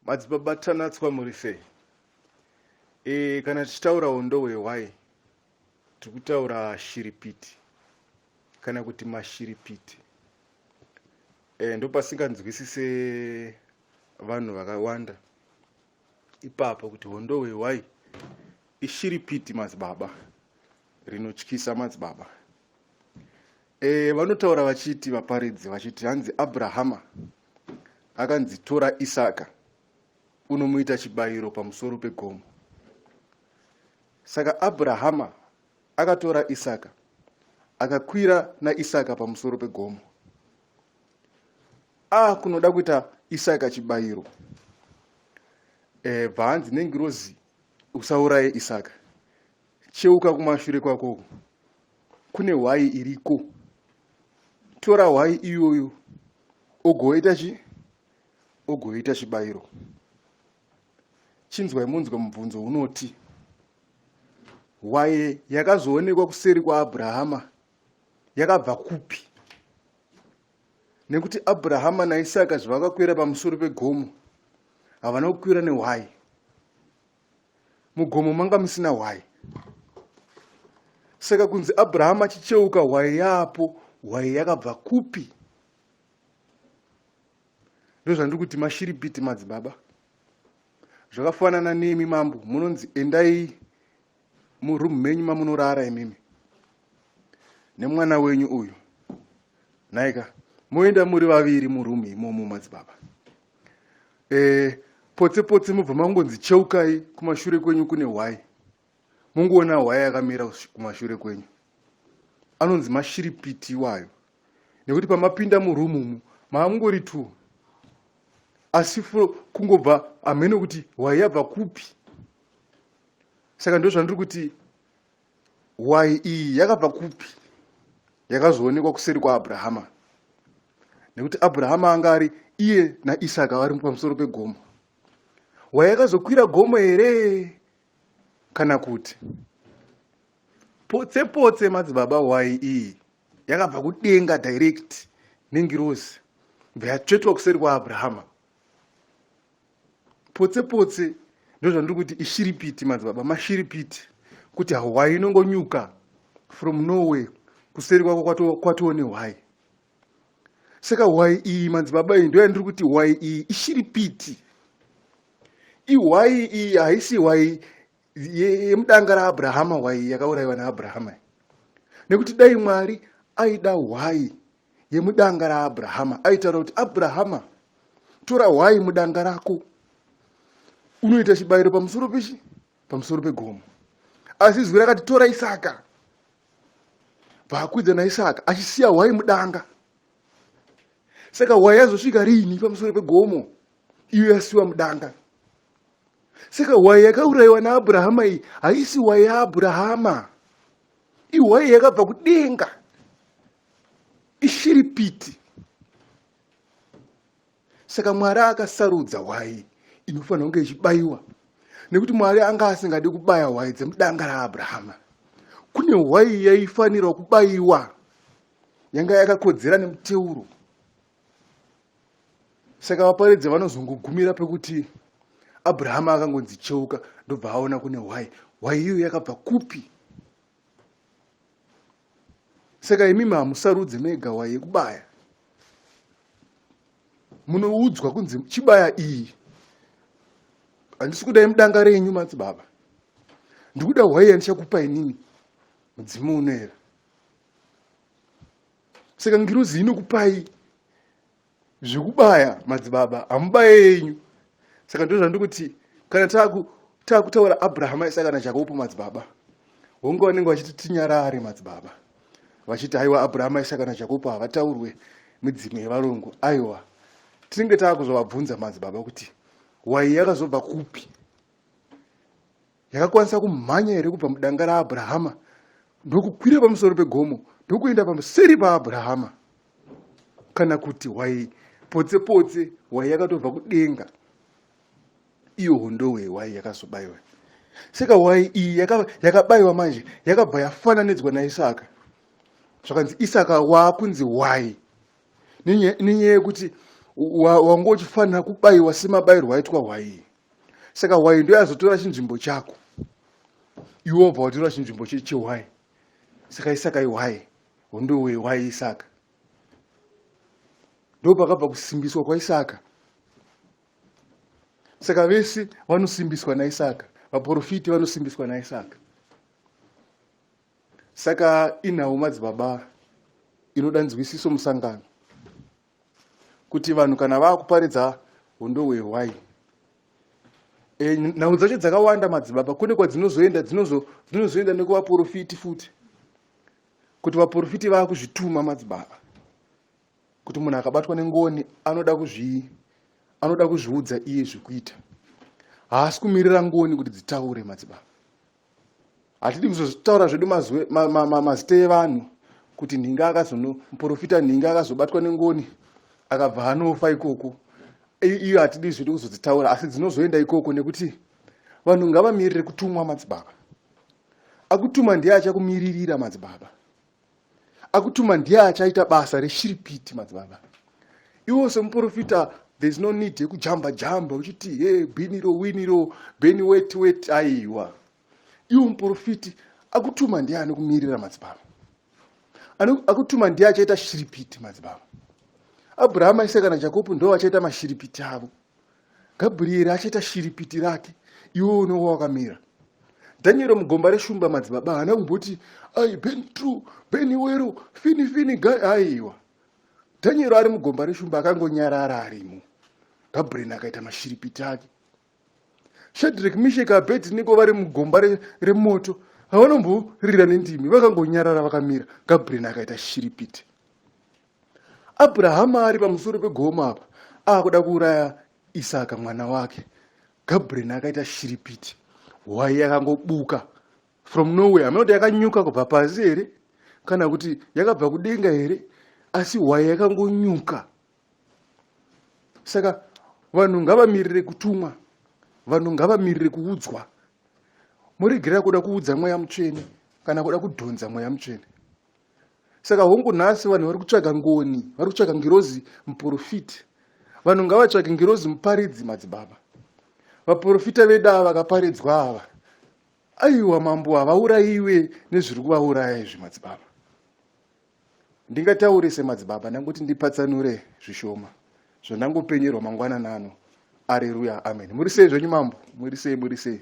Madzibaba Tanatswa muri sei? E, kana tichitaura hondo hwehwai tiri kutaura shiripiti kana kuti mashiripiti e, eh, ndopasinganzwisise vanhu vakawanda ipapo kuti hondo hwehwai ishiripiti madzibaba rinotyisa madzibaba E, vanotaura vachiti vaparidzi vachiti hanzi Abrahama akanzi tora Isaka unomuita chibayiro pamusoro pegomo. Saka Abrahama akatora Isaka akakwira naIsaka pamusoro pegomo. Ah, kunoda kuita Isaka chibayiro. Eh, bhanzi nengirozi usauraye Isaka. Cheuka kumashure kwako. kune hwai iriko tora hwai iyoyo ogoita chi ogoita chibayiro chinzwai munzwa mubvunzo unoti hwaye yakazoonekwa kuseri kwaabrahama yakabva kupi nekuti abrahama naisaka zvavakakwira pamusoro pegomo havana kukwira nehwayi mugomo manga musina hwai saka kunzi abrahama achicheuka hwai yaapo hwai yakabva kupi ndozvandiri kuti mashiripiti madzibaba zvakafanana nemi mambo munonzi endai muroom menyu mamunorara imimi nemwana wenyu uyu nhaika moenda muri vaviri muroom imomo madzibaba eh, potse potse mobva mangonzi cheukai kumashure kwenyu kune hwai mongoona hwai akamira kumashure kwenyu anonzi mashiripiti iwayo nekuti pamapinda murumu umu maamungori two asi kungobva hameno kuti hwai yabva kupi saka ndozvandiri kuti Hwai iyi yakabva kupi? Yakazoonekwa kuseri kwaAbrahama, nekuti Abrahama anga ari iye naIsaka vari pamusoro pegomo. Hwai yakazokwira gomo here kana kuti potse potse? Madzibaba, hwai iyi yakabva kudenga direct nengirozi bva yatsvetwa kuseri kwaAbrahama. potse potse ndozvandiri kuti ishiripiti madzibaba mashiripiti kuti hwai inongonyuka from norway kuseri kwako kwatoo kwato nehwai saka hwai iyi madzibaba iyi ndoyandiri kuti hwai iyi ishiripiti ihwai iyi haisi hwai yemudanga raabrahama hwai yakaurayiwa naabrahama nekuti dai mwari aida hwai yemudanga raabrahama aitaura kuti abrahama tora hwai mudanga rako unoita chibayiro pamusoro pechi pamusoro pegomo asi izwi rakati tora isaka vaakwidza naisaka achisiya hwai mudanga saka hwai yazosvika riini pamusoro pegomo iyo yasiwa mudanga saka hwai yakaurayiwa naabrahama iyi haisi hwai yaabrahama ihwai yakabva kudenga ishiripiti saka mwari akasarudza hwai inofanira kunge ichibayiwa nekuti mwari anga asingadi kubaya hwai dzemudanga raabrahama kune hwai yaifanirwa kubayiwa yanga yakakodzera nemuteuro saka vaparidzi vanozongogumira pekuti abrahama akangonzi cheuka ndobva aona kune hwai hwai iyo yakabva kupi saka imimi hamusarudze mega waye kubaya munoudzwa kunzi chibaya iyi handisi kuda imudanga renyu matsi baba ndikuda hwaiya ndichakupa inini mudzimu unoera saka ngirozi inokupai Zvikubaya madzibaba hamubaye yenyu saka ndozva ndikuti kana takutaura abrahama isaka najakobo madzibaba hongu vanenge vachiti tinyarare madzibaba vachiti haiwa abrahama isaka najakobo havataurwe midzimu yevarungu aiwa tinenge taakuzovabvunza madzibaba kuti wai yakazobva kupi yakakwanisa kumhanya here kubva mudanga raAbrahama ndokukwira pamusoro pegomo ndokuenda pamuseri paAbrahama kana kuti hwai potse potse hwai yakatobva kudenga iyo hondowe hwai yakazobayiwa saka hwai iyi yakabayiwa manje yakabva yafananidzwa naisaka zvakanzi isaka waakunzi hwai nenyaya yekuti wanga uchifanira kubayiwa semabayirwo aitwa hwai saka hwai ndo yazotora chinzvimbo chako iwe wabva watora chinzvimbo chehwai saka isaka ihwai hondo wehwai isaka ndo pakabva kusimbiswa kwaisaka saka vese vanosimbiswa naisaka vaprofiti vanosimbiswa naisaka saka inhau madzibaba inoda nzwisiso musangano kuti vanhu kana vakuparidza hondo hwehwai e, eh, nhau dzacho dzakawanda madzibaba kune kwadzinozoenda dzinozoenda nekuvaporofiti futi kuti vaporofiti vakuzvituma madzibaba kuti munhu akabatwa nengoni anoda kuzvi anoda kuzviudza iye zvekuita haasi kumirira ngoni kuti dzitaure madzibaba hatidi kuzozvitaura zvedu mazita evanhu kuti nhinga akazonomuporofita nhinga akazobatwa nengoni akabva anofa ikoko iyo hatidi zvedu kuzodzitaura asi dzinozoenda ikoko nekuti vanhu ngavamirire kutumwa madzibaba akutuma ndiye achakumiririra madzibaba akutuma ndiye achaita basa reshiripiti madzibaba iwo semuprofita there's no need yekujamba jamba uchiti he biniro winiro beni weti weti aiwa iwo muprofiti akutuma ndiye anokumirira madzibaba akutuma ndiye achaita shiripiti madzibaba abrahama ise kana jakobo ndo vachaita mashiripiti avo Gabrieri achaita shiripiti rake iwe unenge wakamira. Daniel mugomba reshumba madzibaba haana kumboti ai ben true ben wero fini fini guy aiwa. Daniel ari mugomba reshumba akangonyarara arimo. Gabriel akaita mashiripiti ake. Shadrach Mishek Abednego vari mugomba remoto re havanomborira nendimi vakangonyarara vakamira Gabriel akaita shiripiti. Abrahama ari pamusoro pegomo apa akuda kuuraya Isaka mwana wake. Gabriel akaita shiripiti. Hwai yakangobuka from nowhere. Hameno kuti yakanyuka kubva pasi here kana kuti yakabva kudenga here asi hwai yakangonyuka. Saka vanhu ngavamirire kutumwa. Vanhu ngavamirire kuudzwa. Muregerera kuda kuudza mweya mutsvene kana kuda kudhonza mweya mutsvene. saka hongu nhasi vanhu vari kutsvaga ngoni vari kutsvaga ngirozi muprofiti vanhu ngavatsvage ngirozi muparidzi madzibaba vaprofita vedu ava vakaparidzwa ava aiwa mambo havaurayiwe nezviri kuvauraya izvi madzibaba ndingataure semadzibaba ndangoti ndipatsanure zvishoma zvandangopenyerwa mangwana nano areruya amen muri sei zvenyu mambo muri sei muri sei